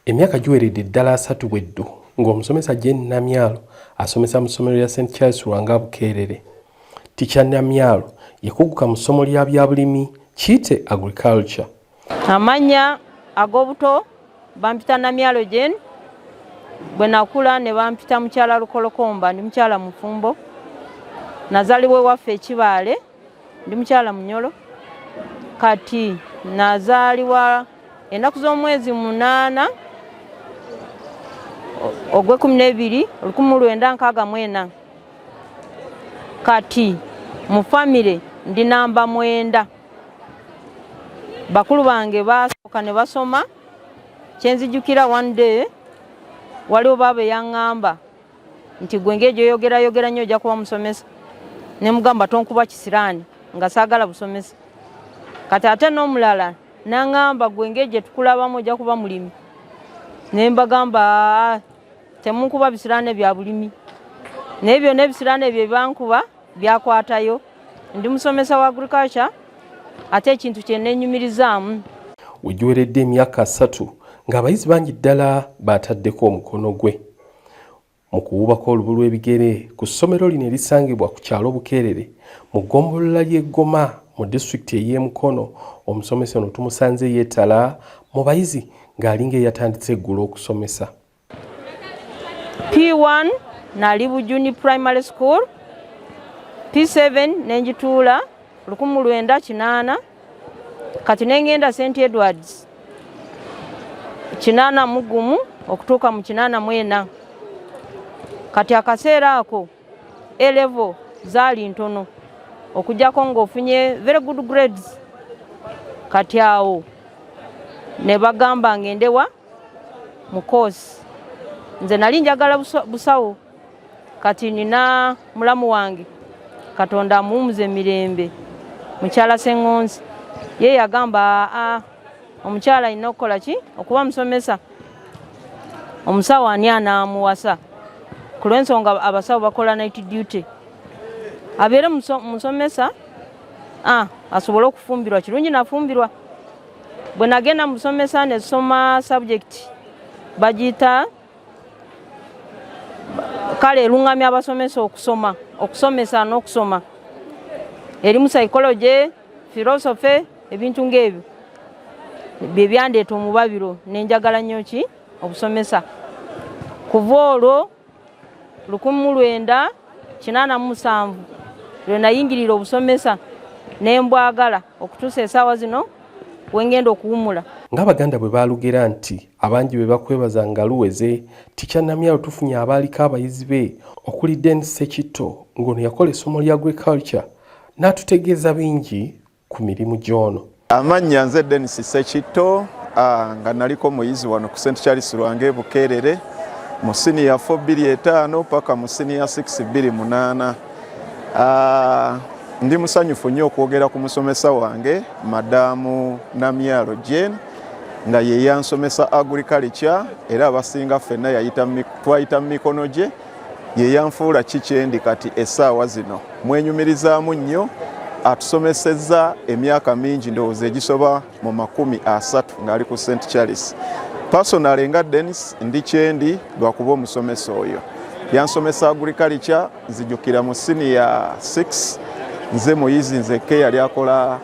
Emyaka giweredde ddala asatu bwe ddu ng'omusomesa Jane Namyalo asomesa mu ssomero lya St Charles Lwanga Bukeerere. Ticha Namyalo yakuguka mu ssomo lya byabulimi kiyite agriculture. Amannya ag'obuto bampita Namyalo Jane, bwe nakula ne bampita mukyala Lukolokomba, ndi mukyala mufumbo. Nazalibwa ewaffe ekibaale. Ndi mukyala Munyolo kati nazaalibwa ennaku z'omwezi munaana ogw'ekkumi n'ebiri olukumi mu lwenda nkaaga mu ena kati mu famire ndi namba mwenda bakulu bange basooka ne basoma kyenzijukira one day waliwo baaba eyaŋŋamba nti gwe ngeri gyoyogerayogera nnyo ojja kuba musomesa ne mugamba tonkuba kisiraani nga saagala busomesa kati ate n'omulala nangamba gwe ngeri gye tukulabamu ojja kuba mulimi ne mbagamba ah, temunkuba bisiraani bya bulimi naye byonna ebisiraani ebyo byebankuba byakwatayo ndi musomesa wa agriculture ate ekintu kyenenyumirizaamu wegiweredde emyaka asatu ng'abayizi bangi ddala baataddeko omukono gwe mu kuwubako olubu lw'ebigere ku ssomero lino erisangibwa ku kyalo bukeerere mu ggombolola ly'e goma mu disitulikiti ey'e mukono omusomesa ono tumusanze yeetala mu bayizi ng'alinga eyatandise eggulo okusomesa p1 nali bujuni primary school p7 nenjituula 1980 kati nengenda st edwards kinaana mugumu okutuuka mu kinaana mwena kati akaseera ako elevo zaali ntono okujjako ngaofunye very good grades kati awo ne bagamba ngendewa mu course nze nali njagala busawo kati nina mulamu wange katonda amuwumuze mirembe mukyala sengonzi ye yagamba aa omukyala alina okukola ki okuba musomesa omusawo ani anaamuwasa ku lwensonga abasawo bakola night duty abeere musomesa asobole okufumbirwa kirungi nafumbirwa bwe nagenda musomesa nesoma subject bagiyita kale elungamya abasomesa okusoma okusomesa n'okusoma erimu psychology philosophy ebintu ng'ebyo bye byandeeta omubabiro nenjagala nnyo ki obusomesa kuva olwo lukumi mu lwenda kinaana mu musanvu lwe nayingirira obusomesa ne mbwagala okutuusa esaawa zino wengenda okuwumula ng'abaganda bwe baalugera nti abangi be bakwebaza nga luweze tikya namyalo tufunye abaaliko abayizi be okuli den sekitto ng'ono yakola essomo lya agriculture n'atutegeeza bingi ku mirimu gy'ono amannya nze denis sekitto nga naliko muyizi wano ku st charles lwange bukeerere mu siniya 425 paka mu siniya 628 ndi musanyufu nnyo okwogera ku musomesa wange madamu namyalo jane nga ye yansomesa agriculture era abasinga ffenna twayita mu mikono gye ye yanfuula ki kyendi kati essaawa zino mwenyumirizaamu nnyo atusomesezza emyaka mingi ndowooza egisoba mu makumi asatu ng'ali ku st charles personale nga denis ndi kyendi lwakuba omusomesa oyo yansomesa agriculture nzijukira mu siniya 6 nze muyizi nzeke yali akola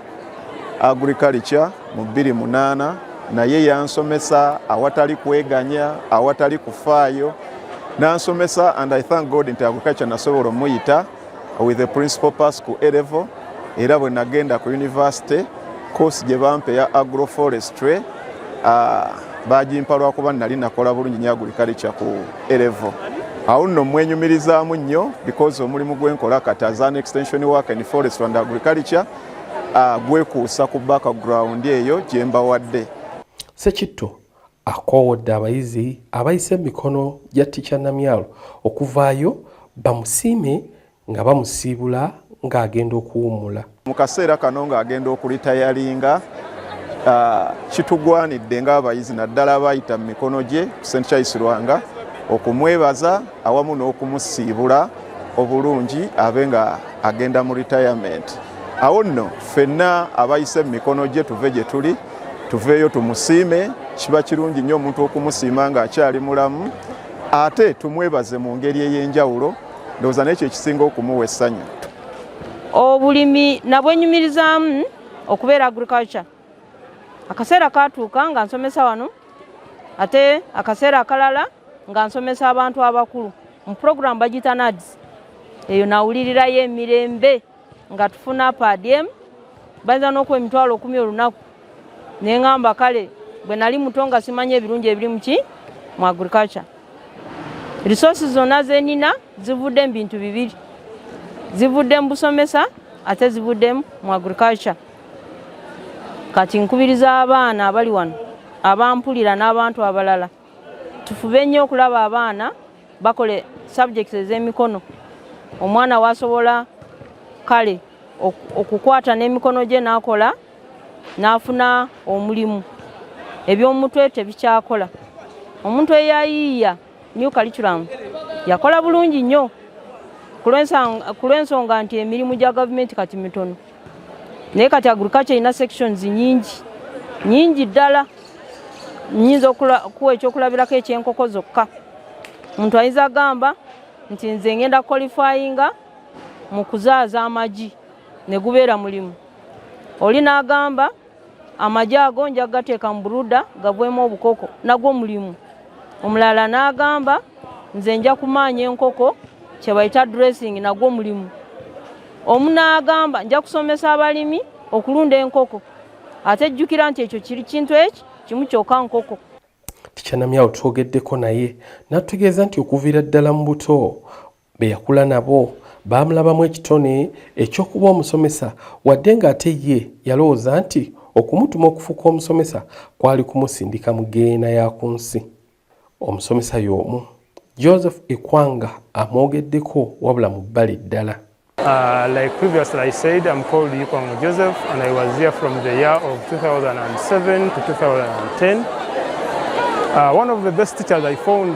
agriculture mu bbiri munaana naye yansomesa awatali kweganya awatali kufaayo nansomesa and i thank god nti agriculture nasobola omuyita with the principal pass ku elevo era bwe nagenda ku university course gye bampa eya agroforestry uh, bagimpa lwakuba nali nakola bulungi nyo agriculture ku elevo awo nno mwenyumirizaamu nnyo because omulimu gwenkola kati as an extension work in forest and agriculture Ah, gwekuusa ku background eyo gyembawadde sekitto akoowodde abayizi abayise emikono gya ticca namyalo okuvaayo bamusiime nga bamusiibula ng'agenda okuwummula mu kaseera kano ng'agenda okulitayalinga ah, kitugwanidde ng'abayizi naddala abayita mu mikono gye st charles lwanga okumwebaza awamu n'okumusiibula obulungi abe nga agenda mu retirement awo nno ffenna abayise mu mikono gye tuve gye tuli tuveeyo tumusiime kiba kirungi nnyo omuntu okumusiima ng'akyali mulamu ate tumwebaze mu ngeri ey'enjawulo ndowooza naye kyo ekisinga okumuwa essanyu obulimi nabwenyumirizaamu okubeera agriculture akaseera katuuka nga nsomesa wano ate akaseera akalala nga nsomesa abantu abakulu mu pulogulaamu bagiyita nads eyo nawulirirayo emirembe nga tufuna padm bayinza n'okuwa emitwalo okumi olunaku ne ŋamba kale bwe nali muto nga simanyi ebirungi ebiri muki mu agriculture risosi zonna zenina zivudde mu bintu bibiri zivudde mu busomesa ate zivudde mu agriculture kati nkubiriza abaana abali wano abampulira n'abantu abalala tufube nnyo okulaba abaana bakole subjects ez'emikono omwana wasobola kale okukwata n'emikono gye n'akola n'afuna omulimu eby'omutwe tebikyakola omuntu eyayiiya new curriculum yakola bulungi nnyo ku lw'ensonga nti emirimu gya gavumenti kati mitono naye kati agriculture erina sections nyingi nyingi ddala nyinza okuwa ekyokulabirako ekyenkoko zokka omuntu ayinza agamba nti nze ngenda qualifyinga mu kuzaaza amagi ne gubeera mulimu oli n'agamba amagye ago nja kugateeka mu buruda gagwemu obukoko nagwo mulimu omulala n'agamba nze nja kumaanya enkoko kyebayita dressing nagwo mulimu omu n'agamba nja kusomesa abalimi okulunda enkoko ate jjukira nti ekyo kiri kintu eki kimu kyoka nkoko tikyanamyawo twogeddeko naye natutegeeza nti okuviira ddala mu buto Be yakula nabo baamulabamu ekitone eky'okuba omusomesa wadde ng'ate ye yalowooza nti okumutuma okufuuka omusomesa kwali kumusindika mu geyeena ya ku nsi. Omusomesa y'omu Joseph Ikwanga amwogeddeko wabula mu bbali ddala. Uh, like previously I said, I'm called Yikwango Joseph and I was here from the year of 2007 to 2010. Uh, one of the best teachers I found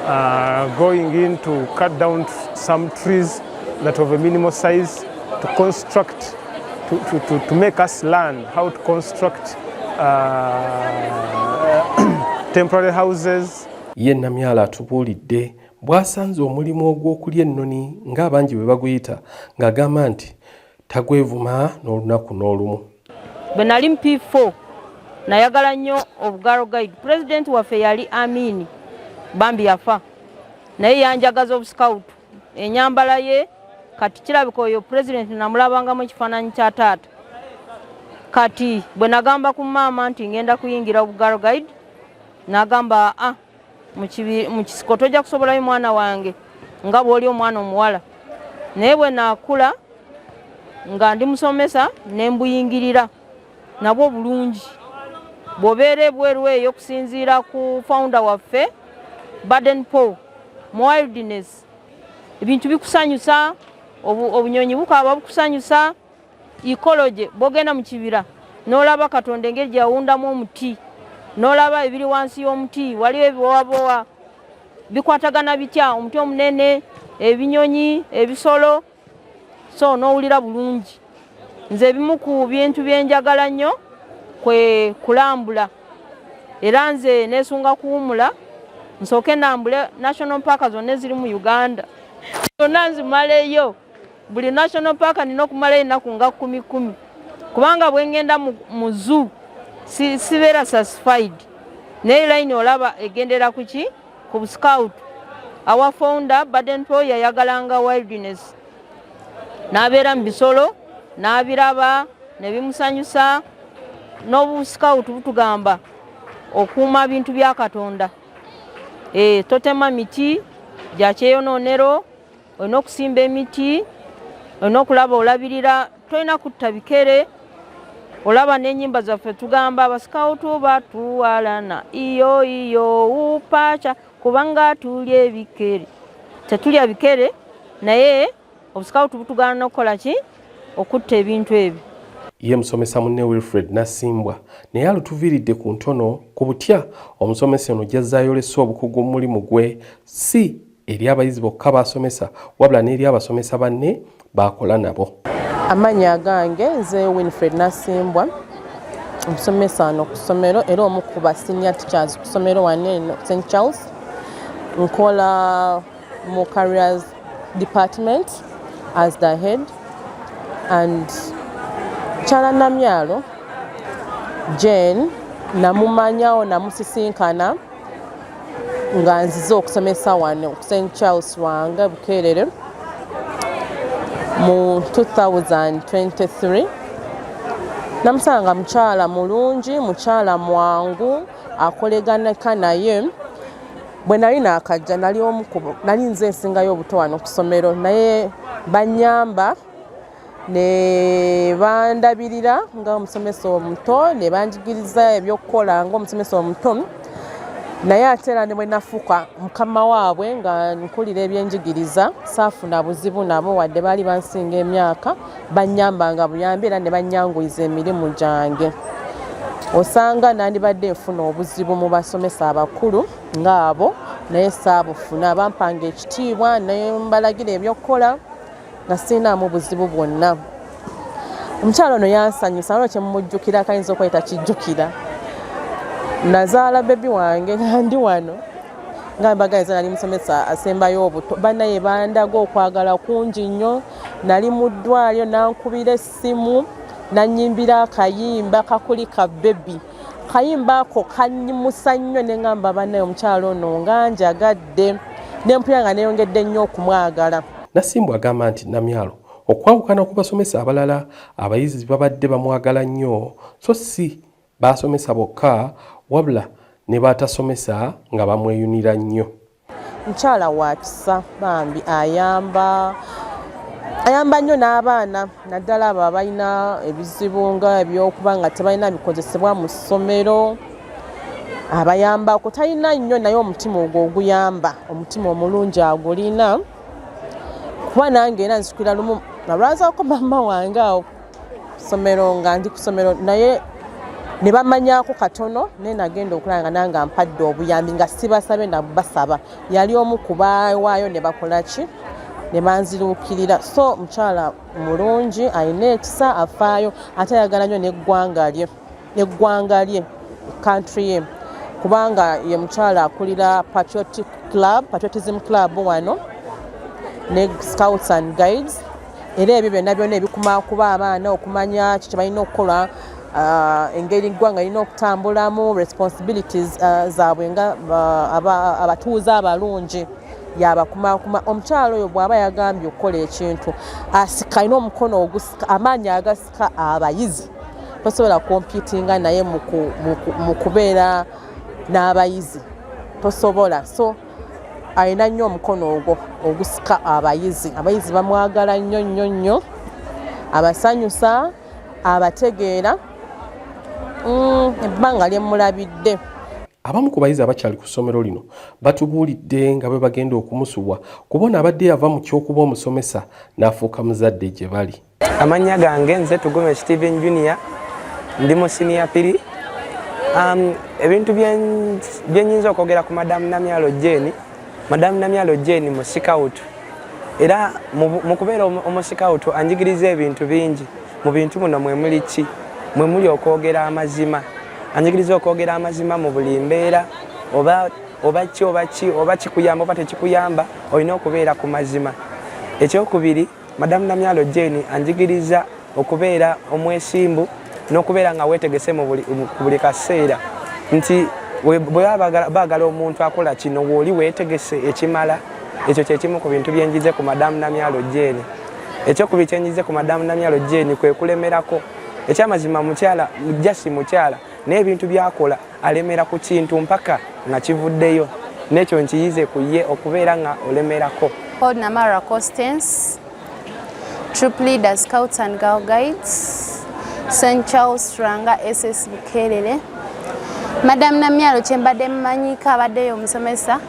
Uh, going in to cut down some trees that of a minimal size to construct to, to, to, to make us learn how to construct uh, temporary houses ye namyala atubuulidde bw'asanze omulimu ogw'okulya ennoni ng'abangi bwe baguyita ng'agamba nti tagwevuma n'olunaku n'olumu bwe nali mu p4 nayagala nnyo obugaro guide president waffe yali amini bambi yafa naye yanjagaza obusikawutu enyambala ye kati kirabika oyo president namulabangamu ekifaananyi kya taata kati bwe nagamba ku maama nti ngenda kuyingira obugaro guide nagamba ah mu kisiko tojja kusobolayo mwana wange nga bw'oli omwana omuwala naye bwe naakula nga ndi musomesa ne mbuyingirira nabwo bulungi bw'obeera ebweru eyo okusinziira ku founder waffe baden paul mu wildness ebintu bikusanyusa obunyonyi bukaaba bukusanyusa ikoloje bwogenda mu kibira n'olaba katonda engeri gye yawundamu omuti n'olaba ebiri wansi y'omuti waliwo ebibowabowa bikwatagana bitya omuti omunene ebinyonyi ebisolo so n'owulira bulungi nze ebimu ku bintu byenjagala nnyo kwe kulambula era nze nesunga kuwumula nsooke nambule national parka zonna eziri mu uganda zonna nzimaleyo buli national park nina okumalayo ennaku nga kumi kumi kubanga bwengenda mu zoo sibeera satisfied naye line olaba egendera kuki ku scout our founder baden po yayagalanga wildness n'abeera mu bisolo n'abiraba ne bimusanyusa n'obuscout butugamba okuuma bintu bya katonda e, totema miti gya kyeyonoonero olina okusimba emiti olina okulaba olabirira tolina kutta bikere olaba n'enyimba zaffe tugamba abasikawutu batuwalana iyo iyo upaca kubanga tulya ebikere tetulya bikere naye obusikawutu butugaana nokukola ki okutta ebintu ebyo ye musomesa munne wilfred nasimbwa naye alutuviiridde ku ntono ku butya omusomesa ono gyazze ayolesa obukugu mu mulimu gwe si eri abayizi bokka basomesa wabula n'eri abasomesa banne baakola nabo amannya agange nze winfred nasimbwa omusomesa wano ku ssomero era omu ku basinia teachers ku ssomero wano eno st charles nkola mu carriers department as the head and kyala namyalo jane namumanyawo namusisinkana nga nzize okusomesa wano ku st charles wanga bukeerere mu 2023 namusanga mukyala mulungi mukyala mwangu akoleganeka naye bwe nali nakajja nali omukubo nali nze ensingayo obuto wano ku ssomero naye banyamba ne bandabirira nga omusomesa omuto ne banjigiriza ebyokukola nga omusomesa omuto naye ate era ne bwe nafuuka mukama waabwe nga nkulira ebyenjigiriza saafuna buzibu nabo wadde baali bansinga emyaka bannyambanga buyambi era ne bannyanguyiza emirimu gyange osanga nandibadde nfuna obuzibu mu basomesa abakulu ng'abo naye saabufuna bampanga ekitiibwa ne mbalagira ebyokukola nga sirinaamu buzibu bwonna omukyalo ono yansanyusa nalwo kyemumujjukira akayinza okuba takijjukira nazaala bebi wange nga ndi wano nga mbagaiza nali musomesa asembayo obuto banaye bandaga okwagala kungi nnyo nali mu ddwaliro nankubira essimu nanyimbira akayimba kakuli ka bebi kayimba ako kanyimusa nnyo ne ŋamba banaye omukyalo ono nga njagadde nempulira nga neyongedde nnyo okumwagala nasimbu agamba nti namyalo okwawukana ku basomesa abalala abayizi babadde bamwagala nnyo so si baasomesa bokka wabula ne baatasomesa nga bamweyunira nnyo mukyala wa kisa bambi ayamba ayamba nnyo n'abaana naddala abo abalina ebizibu nga ebyokuba nga tebalina bikozesebwa mu ssomero abayambako talina nnyo naye omutima ogwo oguyamba omutima omulungi agulina kuba nange era nsikira lumu nalwazako maama wange awo somero nga ndi ku somero naye ne bamanyako katono naye nagenda okulaba nga nange ampadde obuyambi nga sibasabe na basaba yali omu ku bawaayo ne bakola ki ne banziruukirira so mukyala mulungi alina ekisa afaayo ate ayagala nnyo n'eggwanga lye neggwanga lye country ye kubanga ye mukyala akulira patriotic club patriotism club wano ne scouts and guides era ebyo byonna byona ebikuma kuba abaana okumanya ki kyebalina okukola uh, engeri ggwanga lirina okutambulamu responsibilities uh, zaabwe nga uh, abatuuze abalungi yabakumakuma omukyalo oyo bwaba yagambye okukola ekintu asika alina omukono ogusika amaanyi agas ka abayizi tosobola komputinga naye mu kubeera n'abayizi tosobola so alina nnyo omukono ogwo ogusika abayizi abayizi bamwagala nnyo nnyo nnyo abasanyusa abategeera mm, ebbanga lyemulabidde abamu ku bayizi abakyali ku ssomero lino batubuulidde nga bwe bagenda okumusubwa kubona abadde yava mu ky'okuba omusomesa n'afuuka muzadde gye bali amannya gange nze tugume steven junior ndi mu siniya piri um, ebintu byenyinza okwogera ku madamu namyalo jeni madamu namyalo jeni musikawutu era mu kubeera omusikawutu anjigiriza ebintu bingi mu bintu muno mwemuli ki mwemuli okwogera amazima anjigiriza okwogera amazima mu buli mbeera oba oba ki oba ki oba kikuyamba oba tekikuyamba olina okubeera ku mazima ekyokubiri Madamu Namyalo Jane anjigiriza okubeera omwesimbu n'okubeera nga weetegese mu buli kaseera nti bwe baagala omuntu akola kino weoli weetegese ekimala ekyo kyekimu ku bintu byenjize ku madamu namyalo jeeni ekyokubiri kyenjize ku madamu namyalo jeeni kwe kulemerako ekyamazima mukyala jasi mukyala naye ebintu byakola alemera ku kintu mpaka nga kivuddeyo n'ekyo nkiyize ku ye okubeera nga olemerako Paul Namara Constance Troop Leader Scouts and Girl Guides St Charles Ranga SS Bukelele Madam Namyalo kyembadde mmanyiko abaddeyo omusomesa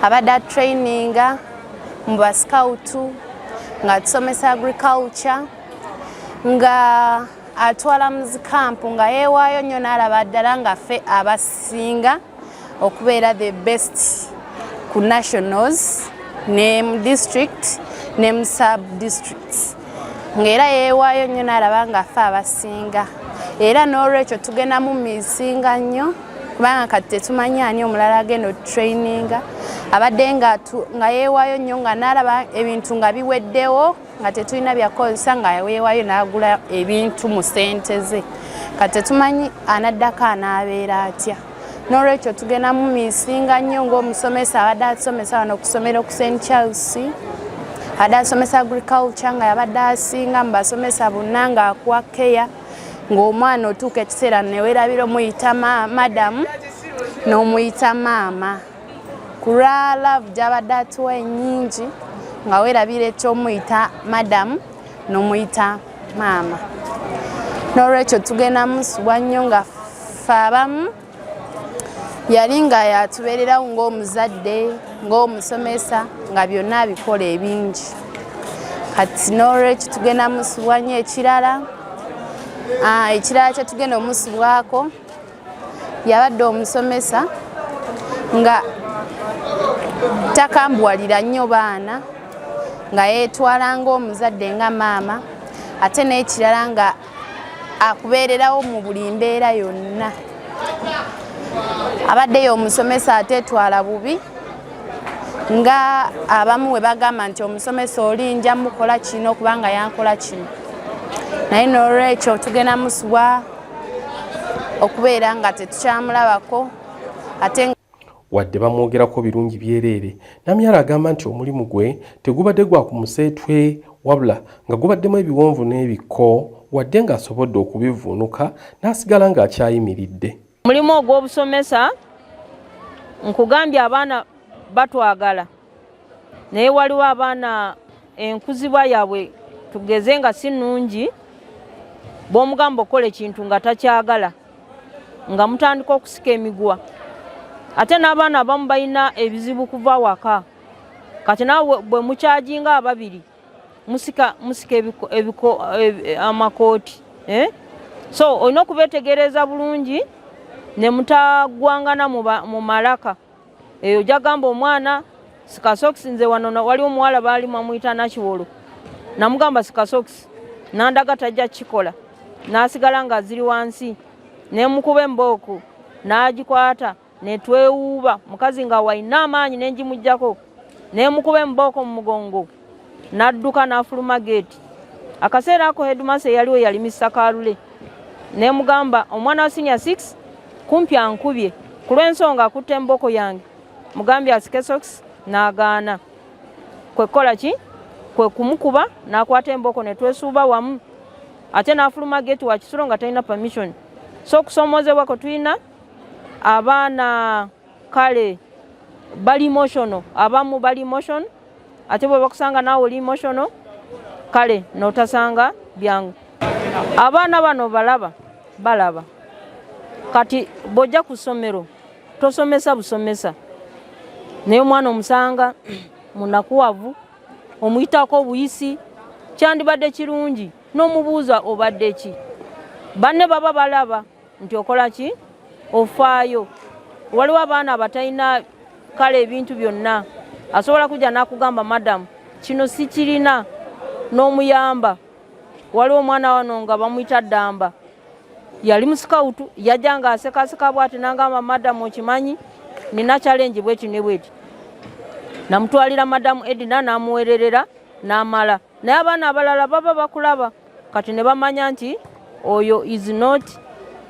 abadde atraininga mu basikawutu nga tusomesa agriculture nga atwala mu zikampu nga yeewaayo nnyo n'alaba ddala nga ffe abasinga okubeera the best ku nationals ne mu district ne mu sub districts ng'era yeewaayo nnyo n'alaba nga ffe abasinga era n'olwekyo tugenda mu misinga nnyo kubanga kati tetumanyi ani omulala agenda otutraininga abadde nga yeewaayo nnyo nga n'alaba ebintu nga biweddewo nga tetulina byakukozesa nga weewayo n'agula ebintu mu ssente ze kati tetumanyi anaddako anaabeera atya n'olwekyo tugenda mu misinga nnyo ng'omusomesa abadde atusomesa wano okusomera oku st charles abadde asomesa agriculture nga yabadde asinga mu basomesa bonna ng'akuwa keya ng'omwana otuuka ekiseera newerabira omuyita madamu n'omuyita maama ku lwa laavu gy'abadde atuwa ennyingi nga weerabira eky'omuyita madamu n'omuyita maama n'olwekyo tugenda musubwa nnyo nga ffe abamu yali nga yatubeererawo ng'omuzadde ng'omusomesa nga byonna abikola ebingi kati n'olwekyo tugenda musubwa nnyo ekirala ah, ekirala kyetugenda omusubwako yabadde omusomesa nga takambuwalira nnyo baana nga yeetwala ng'omuzadde nga maama ate n'ekirala nga akubeererawo mu buli mbeera yonna abaddeyo omusomesa ateetwala bubi nga abamu we bagamba nti omusomesa oli nja mukola kino kubanga yankola kino naye n'olwekyo tugenda musubwa okubeera nga tetukyamulabako ate wadde bamwogerako birungi byereere namyala agamba nti omulimu gwe tegubadde gwa ku museetwe wabula nga gubaddemu ebiwonvu n'ebikko wadde ng'asobodde okubivuunuka n'asigala ng'akyayimiridde omulimu ogw'obusomesa nkugambye abaana batwagala naye waliwo abaana enkuzibwa yaabwe tugeze nga si nnungi bw'omugamba okukola ekintu nga takyagala nga mutandika okusika emigwa ate n'abaana abamu balina ebizibu kuva waka kati nawe bwe mukyajinga ababiri musika musika ebiko amakooti eh? so olina okubetegereza bulungi ne mutagwangana mu malaka eyo jagamba omwana sikasokisi nze wano wali omuwala baali mwamuyita nakiwolo namugamba sikasokisi nandaga tajja kukikola nasigala nga ziri wansi nemukuba embooku nagikwata netwewuuba mukazi nga walina amaanyi nengimugjako nemukuba embooko mu mugongo n'adduka n'afuluma geeti akaseera ako hedumasa eyaliwo yali misa kalule ne mugamba omwana wa sinia six kumpi ankubye ku lw'ensonga akutte emboko yange mugambye asike sox n'agaana kwe kukola ki kwe kumukuba n'akwata emboko ne twesuuba wamu ate n'afuluma geeti wa kisulo nga talina permission so okusoomoozebwa kwe tulina abaana kale bali emotional abamu bali emotion ate bwe bakusanga naawe oli emotional kale notasanga byangu abaana bano balaba balaba kati bwojja ku ssomero tosomesa busomesa naye omwana omusanga munakuwavu omuyitako obuyisi kyandibadde kirungi n'omubuuza obadde ki banne baba balaba nti okola ki ofaayo waliwo abaana abatalina kale ebintu byonna asobola kujja n'akugamba madamu kino sikirina n'omuyamba waliwo omwana wano nga bamuyita ddamba yali musikawutu yajja nga asekaseka bwati nangamba madamu okimanyi nina kyalengi bweti ne bweti namutwalira madamu edina namuwererera namala naye abaana abalala baba bakulaba kati ne bamanya nti oyo is not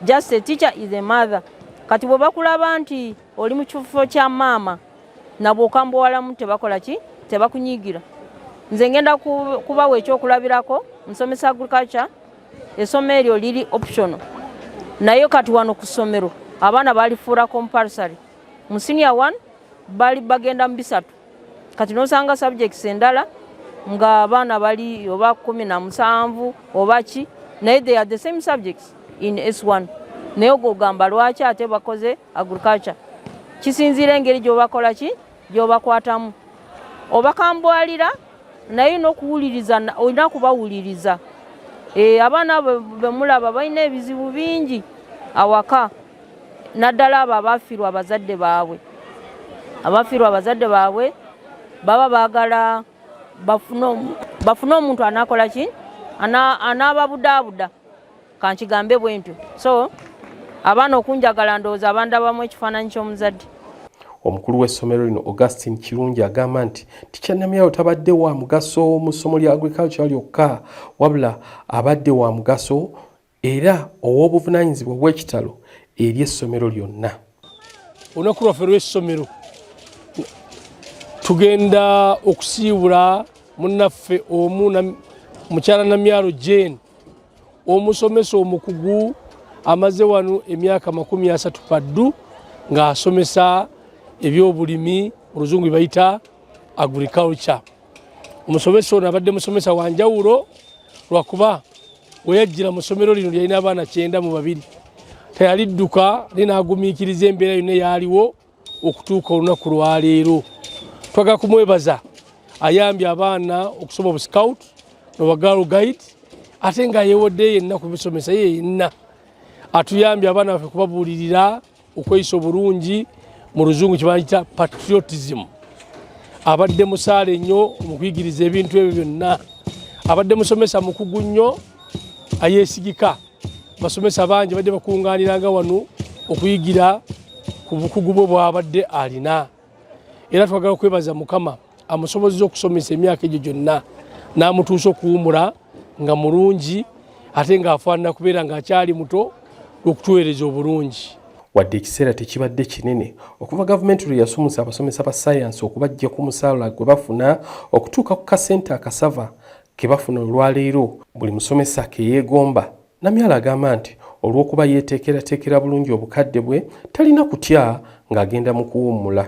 just a teacher is a mother kati bwe bakulaba nti oli mu kifo kya maama nabwe okambuwalamu tebakola ki tebakunyigira nze ngenda kubawa ekyokulabirako nsomesa agriculture essomo eryo liri optional naye kati wano ku ssomero abaana balifuula compulsory mu senior one bali bagenda mu bisatu kati nosanga subjects endala nga abaana bali oba kumi na musanvu oba ki naye they are the same subjects in s1 naye ogwo ogamba lwaki ate bakoze agriculture kisinziira engeri gyobakola ki gyobakwatamu obakambwalira naye nokuwuliriza olina kubawuliriza eh, abaana bemulaba balina ebizibu bingi awaka naddala abo abafiirwa abazadde baabwe abafiirwa abazadde baabwe baba baagala bafune omuntu anakola ki anaababudaabuda kankigambe bwe ntyo so abaana okunjagala ndowooza abandabamu ekifaananyi ky'omuzadde omukulu w'essomero lino augustin kirungi agamba nti tikyanamyawo tabadde wa mugaso mu ssomo lya agriculture lyokka wabula abadde wa mugaso era ow'obuvunaanyizibwa obw'ekitalo eri essomero lyonna. Olunaku lwaffe lw'essomero tugenda okusiibula munnaffe omu mukyala Namyalo Jane omusomesa omukugu amaze wano emyaka makumi asatu paddu ng'asomesa ebyobulimi oluzungu bayita agriculture. omusomesa ono abadde musomesa wa njawulo lwakuba weyajjira mu ssomero lino lyalina abaana kyenda mu babiri teyalidduka naye n'agumiikiriza embeera yonna eyaaliwo okutuuka olunaku lwaleero twagala kumwebaza ayambye abaana okusoma obuscout nobagaalo guide ate nga yewodde yenna ku bisomesa ye yenna atuyambye abaana baffe kubabuulirira okweyisa obulungi mu luzungu kyebayita patriotism abadde musaale nnyo mukuyigiriza ebintu ebyo byonna abadde musomesa mukugu nnyo ayesigika basomesa bangi badde bakunganiranga wano okuyigira ku bukugu bwe bwabadde alina era twagala okwebaza mukama amusobozeza okusomesa emyaka egyo gyonna n'amutuusa okuwumula nga mulungi ate ng'afaanana kubeera ng'akyali muto okutuweereza obulungi wadde ekiseera tekibadde kinene okuva gavumenti lwe yasumusa abasomesa ba sayansi okubajja ku musaala gwe bafuna okutuuka ku kasente akasava ke bafuna olwaleero buli musomesa ke yeegomba namyalo agamba nti olw'okuba yeeteekerateekera bulungi obukadde bwe talina kutya ng'agenda mu kuwummula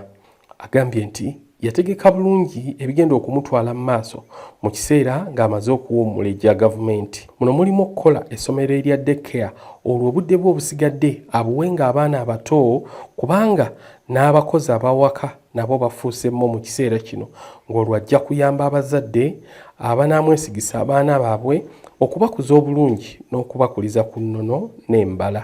Agambye nti yategeka bulungi ebigenda okumutwala mu maaso mu kiseera ng'amaze okuwummula egya gavumenti. Muno mulimu okukola essomero erya daycare olwo obudde bwe obusigadde abuwe ng'abaana abato kubanga n'abakozi abawaka nabo bafuuse mmo mu kiseera kino ng'olwo ajja kuyamba abazadde abanaamwesigisa abaana baabwe okubakuza obulungi n'okubakuliza ku nnono n'embala.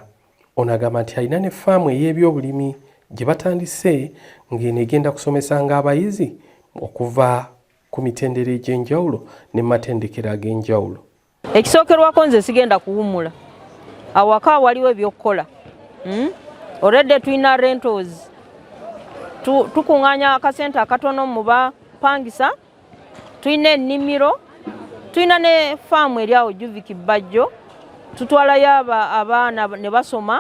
Ono agamba nti alina ne faamu ey'ebyobulimi gye batandise ng'eno egenda kusomesanga abayizi okuva ku mitendera egy'enjawulo ne matendekero ag'enjawulo. Ekisookerwako nze sigenda kuwummula awaka waliwo ebyokukola hmm? already tulina rentals tukuŋŋaanya akasente akatono mu bapangisa tulina ennimiro tulina ne faamu eri awo juviki bbajjo tutwalayo abaana ne basoma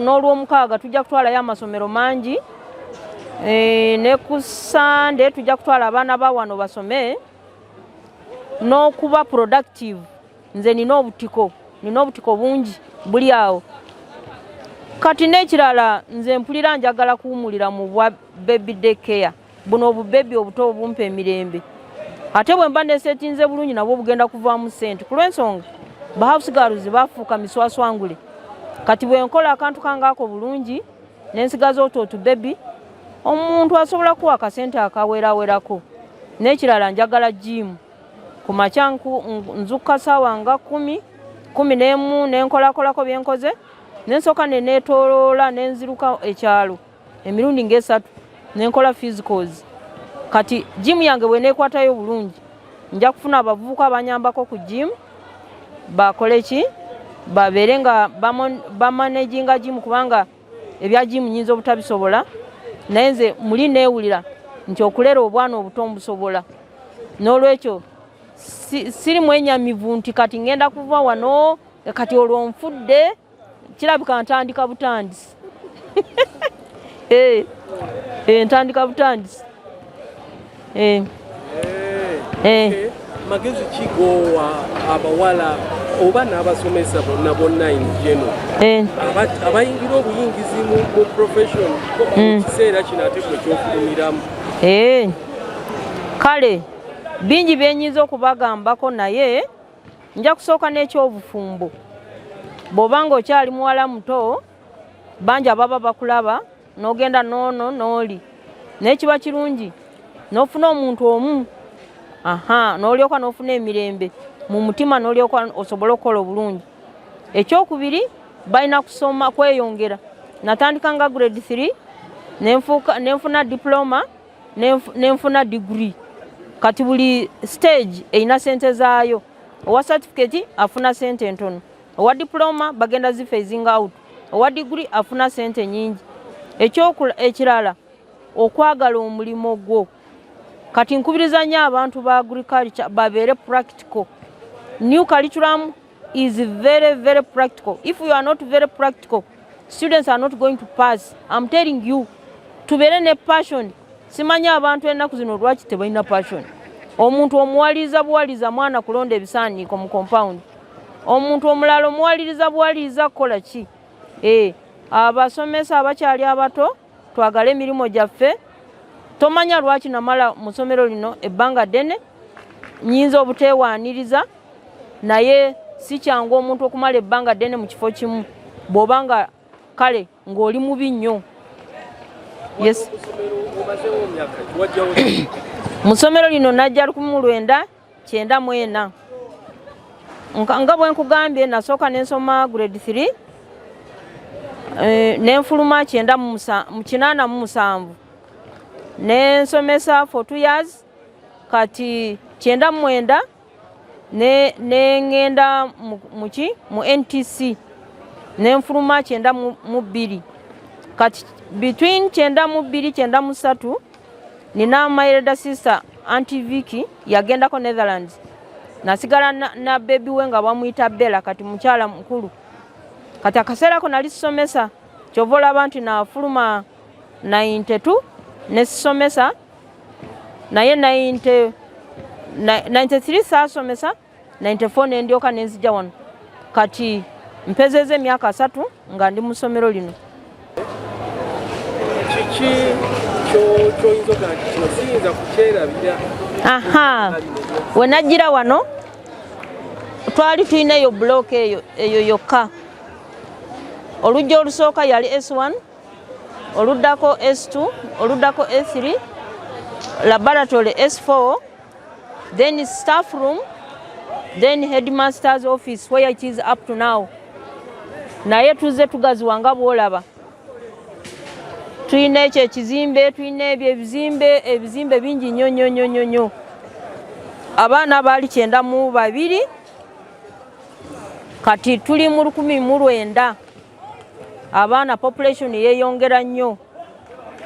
n'olwomukaaga tujja kutwalayo amasomero mangi eh, ne ku sande tujja kutwala abaana ba wano basome n'okuba productive nze nina obutiko nina obutiko bungi buli awo kati n'ekirala nze mpulira njagala kuwumulira mu bwa baby day care buno obubebi obuto obumpa emirembe ate bwe mba nesetinze bulungi nabwo bugenda kuvaamu sente ku lw'ensonga bahausigaruzi bafuuka miswaswangule kati bwe nkola akantu kangaako bulungi nensigaza otu otubebi omuntu asobola kuwa akasente akaweerawerako n'ekirala njagala jiimu ku makya nzukka saawa nga kumi kumi n'emu nenkolakolako byenkoze nensooka neneetoloola nenziruka ekyalo emirundi ngaesatu nenkola physicals kati jimu yange bweneekwatayo bulungi nja kufuna abavubuka abanyambako ku jimu bakole ki babeere nga bamanaginga jimu kubanga ebya jimu nyinza obutabisobola naye nze muli neewulira nti okulera obwana obuto mbusobola n'olwekyo siri mwenyamivu nti kati ngenda kuva wano kati olwo nfudde kirabika ntandika butandisi eh, eh, ntandika butandisi Eh. Eh. Eh. Okay. magezi ki goowa abawala oba n'abasomesa bonna bonna in geno eh. abayingira obuyingizi mu profession mu hmm. kiseera kino ate kwe kyokufumiramu eh. kale bingi byenyinza okubagambako naye nja kusooka n'ekyobufumbo bw'oba nga okyali muwala muto bangi ababa bakulaba n'ogenda noono n'oli naye kiba kirungi n'ofuna omuntu omu aha n'olyoka n'ofuna emirembe mu mutima n'olyoka osobola okukola obulungi ekyokubiri balina kusoma kweyongera natandika nga grade 3 nenfuna diploma nenfuna degree kati buli stage erina sente zaayo owa certificate afuna sente ntono owa diploma bagenda zifa ezinga out owa diguli afuna sente nyingi ekirala okwagala omulimu gwo kati nkubiriza nyo abantu ba agriculture babeere practical new curriculum is very very practical if you are not very practical students are not going to pass im telling you tubeere ne passion simanyi abantu ennaku zino lwaki tebalina passion omuntu omuwaliza buwaliza mwana kulonda ebisaaniiko mu compound omuntu omulala omuwaliriza buwaliriza kukola ki eh, abasomesa abakyali abato twagale emirimu gyaffe tomanya lwaki namala mu ssomero lino ebbanga ddene nyinza obuteewaaniriza naye si kyangu omuntu okumala ebbanga ddene mu kifo kimu bw'oba nga kale ng'oli mubi nnyo mu ssomero lino najja lukumi mu lwenda kyenda mu ena nga bwe nkugambye nasooka ne nsoma grade 3 eh, ne nfuluma kyenda mu kinaana mu musanvu ne nsomesa for two years kati kyenda mu mwenda ne ngenda muki mu ntc ne nfuluma kyenda mu bbiri kati between kyenda mu bbiri kyenda mu ssatu nina my elder sister anti viki yagendako netherlands nasigala na, na bebi we nga bamuyita bela kati mukyala mukulu kati akaseera ko nali sisomesa kyova olaba nti nafuluma 92 nesisomesa naye 93 saasomesa 94 nendyoka nenzija wano kati mpezeza emyaka asatu nga ndi musomero lino kiki kyoyinza okugamba nti kino siyinza kukyerabira aha wenajjira wano twali tulina eyo bulooka eyo eyo yokka olujja olusooka yali s1 oluddako s2 oluddako s3 laboratory s4 then staff room then headmaster's office where it is up to now naye tuzze tugaziwa nga bwolaba tulina ekyo ekizimbe tulina ebyo ebizimbe ebizimbe bingi nyo nyo nyo nyo nyo abaana baali kyenda mu babiri kati tuli mu lukumi mu lwenda abaana population yeyongera nnyo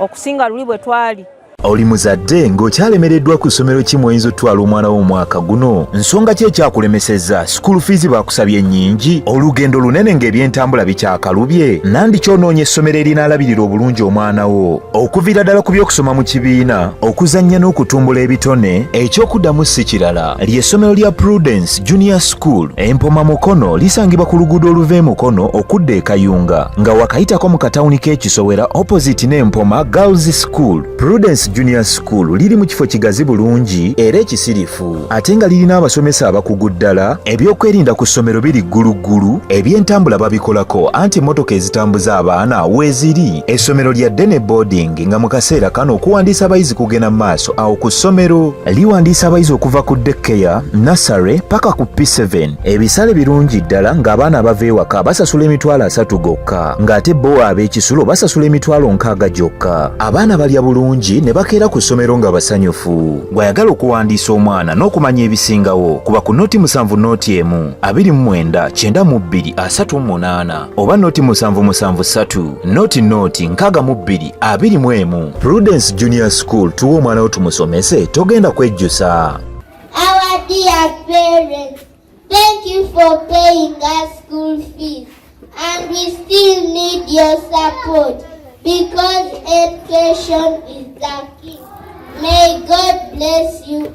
okusinga luli bwe twali oli muzadde ng'okyalemereddwa ku ssomero ki mw'oyinza otutwala omwana wo omwaka guno nsonga ki ekyakulemesezza sikuulu fiizi baakusabye nnyingi olugendo lunene ng'ebyentambula bikyakalubye nandi kyonoonya essomero erinaalabirira obulungi omwana wo okuviira ddala ku by'okusoma mu kibiina okuzannya n'okutumbula ebitone eky'okuddamu si kirala Ly'essomero lya Prudence Junior School empoma Mukono lisangibwa ku luguudo oluva e Mukono okudda e Kayunga nga wakayitako mu katawuni k'ekisowera opposite n'empoma Girls School. Prudence Junior School liri mu kifo kigazi bulungi era ekisirifu ate nga lirina abasomesa abakugu ddala. Ebyokwerinda ku ssomero biri gguluggulu, ebyentambula babikolako anti emmotoka ezitambuza abaana weeziri. Essomero lya ddene boarding genga mu kaseera kano okuwandiisa abayizi kugenda mu maaso awo ku ssomero liwandiisa abayizi okuva ku dekkeya nasare paka ku p7 ebisale birungi ddala ng'abaana abava ewaka basasula emitwalo asatu gokka ng'ate bo ab'ekisulo basasula emitwalo nkaaga gyokka abaana balya bulungi ne bakeera ku ssomero nga basanyufu gw'ayagala okuwandiisa omwana n'okumanya ebisingawo kuba ku noti musanvu noti emu abiri mu mwenda kyenda mu bbiri asatu mu munaana oba noti musanvu musanvu satu noti noti nkaga mu bbiri abiri mu emu prudence junior school tuwa omwana wo tumusomese togenda kwejjusa Our dear parents, thank you for paying us school fees and we still need your support because education is the key. May God bless you